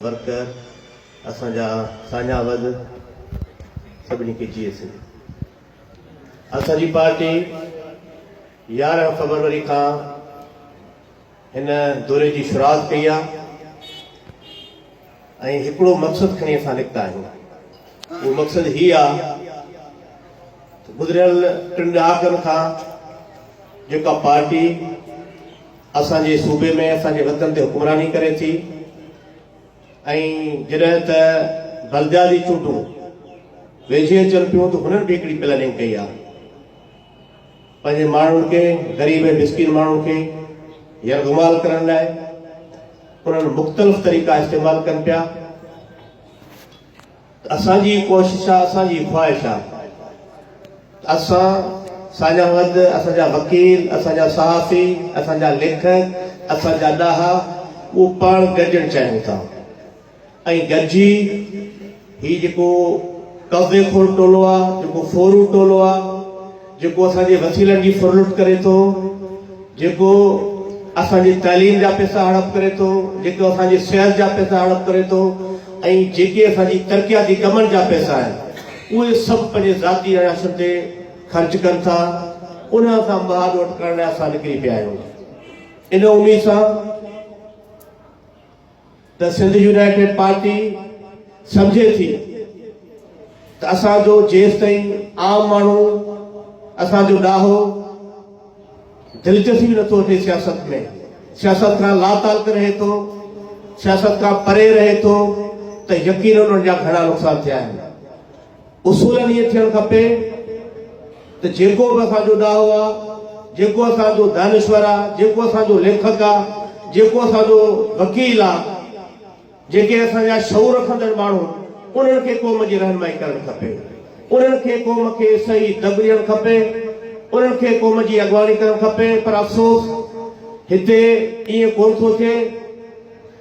Worker اسان جا ساڃاهه وز سڀني کي جيئي سنڌ اسان جي پارٽي يارهن فبروري کان هن دوري جي شروعات ڪئي آ ۽ هڪڙو مقصد کڻي اسان نڪتا آهيون اهو مقصد هي آ گذريل ٽن ڏهاڪن کان جيڪا پارٽي اسان جي صوبي ۾ اسان جي وطن تي حڪمراني ڪري ٿي ۽ جڏهن ته بلديات جي چونڊون ويجهي اچن پيون ته هنن به هڪڙي پلاننگ ڪئي آهي پنهنجي ماڻهن کي غريب ۽ مسڪين ماڻهن کي يرغمال ڪرڻ لاء انهن مختلف طريقا استعمال ڪن پيا اسان جي ڪوشش آ اسان جي خواهش آ ته اسان سان جا ود اسان جا وڪيل اسان جا صحافي اسان جا ليکڪ اسان جا ڏاها اهو پاڻ گڏجڻ چاهيون ٿا ۽ گڏجي هي جيڪو قبضي خور ٽولو آ جيڪو ڦورو ٽولو آ جيڪو اسان جي وسيلن جي ڦرلٽ ڪري ٿو، جيڪو اسان جي تعليم جا پئسا هڙپ ڪري ٿو، جيڪو اسان جي صحت جا پئسا هڙپ ڪري ٿو ۽ جيڪي اسان جي ترقياتي ڪمن جا پئسا آهن اهي سڀ پنهنجي ذاتي عياشن تي خرچ ڪن ٿا، ان سان مها ڏوٽ ڪرڻ لاء اسان نڪري پيا آهيون ان اميد سان. ته سنڌ يونائيٽيڊ پارٽي سمجهي ٿي ته اسان جو جيستائين عام ماڻهو اسان جو ڏاهو دلچسپي نٿو وٺي سياست ۾ سياست کان لاتعلق رهي ٿو سياست کان پري رهي ٿو ته يقينن ان جا گهڻا نقصان ٿيا آهن اصولاً ائين ٿيڻ کپي ته جيڪو به اسان جو ڏاهو آ، جيڪو اسان جو دانشور آ، جيڪو اسان جو ليکڪ آ، جيڪو اسان جو وڪيل آ، جيڪي اسان جا شعور رکندڙ ماڻهو آهن، انهن کي قوم جي رهنمائي ڪرڻ کپي. انهن کي قوم کي صحيح دڳ ڏيڻ کپي. انهن کي قوم جي اڳواڻي ڪرڻ کپي پر افسوس هتي ائين ڪونه ٿو ٿئي.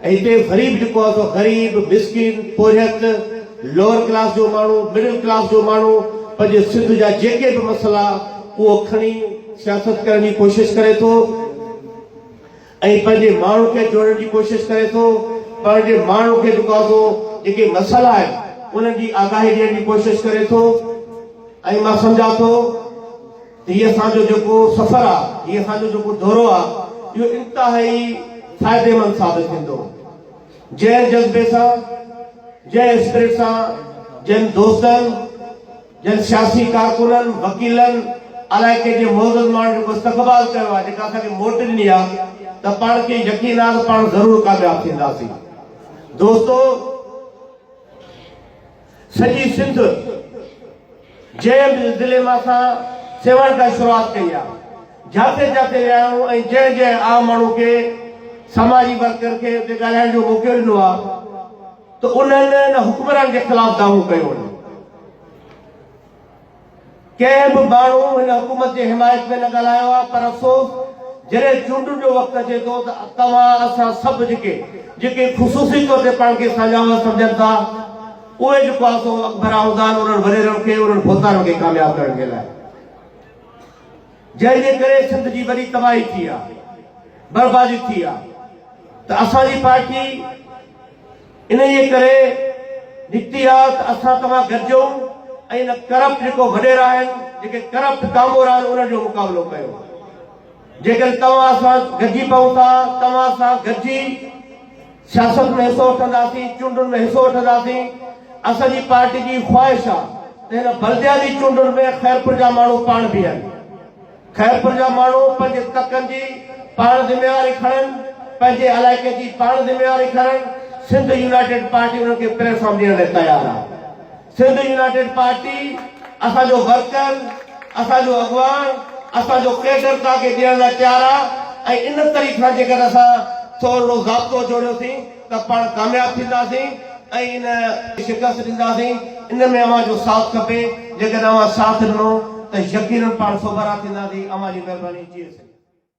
هتي غريب جيڪو آهي سو غريب، مسڪين، پورهيت، لوئر ڪلاس جو ماڻهو، مڊل ڪلاس جو ماڻهو پنهنجي سنڌ جا جيڪي به مسئلا اهو کڻي سياست ڪرڻ جي ڪوشش ڪري ٿو ۽ پنهنجي ماڻهن کي جوڙڻ جي ڪوشش ڪري ٿو پنهنجي ماڻهن کي جيڪو آهي سو جيڪي مسئلا آهن انهن جي آگاهي ڏيڻ جي ڪوشش ڪري ٿو ۽ مان سمجهان ٿو هي اسان جو جيڪو سفر آ، هي اسان جو جيڪو دورو آ، اهو انتهائي فائديمند ثابت ٿيندو. جنهن جذبي سان، جنهن اسپرٽ سان، جن دوستن، جن سياسي ڪارڪنن، وڪيلن، علائقي جي معزز ماڻهن جيڪو استقبال ڪيو آ، جيڪا اسان کي موٽ ڏني آ، ته پاڻ کي يقين آ ته پاڻ ضرور ڪامياب ٿينداسين. دوستو! سڄي سنڌ جنهن به ضلعي مان اسان سيوائي کان شروعات ڪئي آ جاتي جاتي ويا آهيون ۽ جنهن جنهن عام ماڻهو کي سماجي ورڪر کي اتي ڳالهائڻ جو موقعو ڏنو آ ته انهن ان حڪمران جي خلاف دعوو ڪيو آهي. ڪنهن به ماڻهو هن حڪومت جي حمايت ۾ نه ڳالهايو آهي پر افسوس جڏهن چونڊن جو وقت اچي ٿو ته توهان اسان سڀ جيڪي جيڪي خصوصي طور تي پاڻ کي ساڃاهو سمجهن ٿا اهي جيڪو آهي سو اڪبر آهوندان انهن وريرن کي انهن ڀوتارن کي ڪامياب ڪرڻ جي لاء جنهن جي ڪري سنڌ جي وڏي تباهي ٿي آهي بربادي ٿي آهي ته اسان جي پارٽي انهيء ڪري نتيات اسان توهان گڏجون ۽ ان ڪرپٽ جيڪو وڏيرا آهن، جيڪي ڪرپٽ ڪامورا آهن انهن جو مقابلو ڪيون. جيڪڏهن توهان سان گڏجي پئون ٿا، توهان سان گڏجي سياست ۾ حصو وٺنداسين، چونڊن ۾ حصو وٺنداسين. اسان جي پارٽي جي خواهش آهي ته هن بلدياتي چونڊن ۾ خيرپور جا ماڻهو پاڻ بيهن. خيرپور جا ماڻهو پنهنجي تڪن جي پاڻ ذميواري کڻن، پنهنجي علائقي جي پاڻ ذميواري کڻن، سنڌ يونائيٽيڊ پارٽي انهن کي پليٽ فارم ڏيڻ لاء تيار آهي، سنڌ يونائيٽيڊ پارٽي اسان جو ورڪر، اسان جو اڳواڻ، اسان جو ڪيڊر توهان کي ڏيڻ لاء تيار آهي ۽ ان طريقي سان جيڪڏهن اسان ٿورڙو ضابطو جوڙيوسين، ته پاڻ ڪامياب ٿينداسين ۽ ان کي شڪست ڏينداسين. ان ۾ اوهان جو ساٿ کپي. جيڪڏهن اوهان ساٿ ڏنو ته يقينن پاڻ سوڀارا ٿينداسين. اوهان جي مهرباني جي سڄڻ.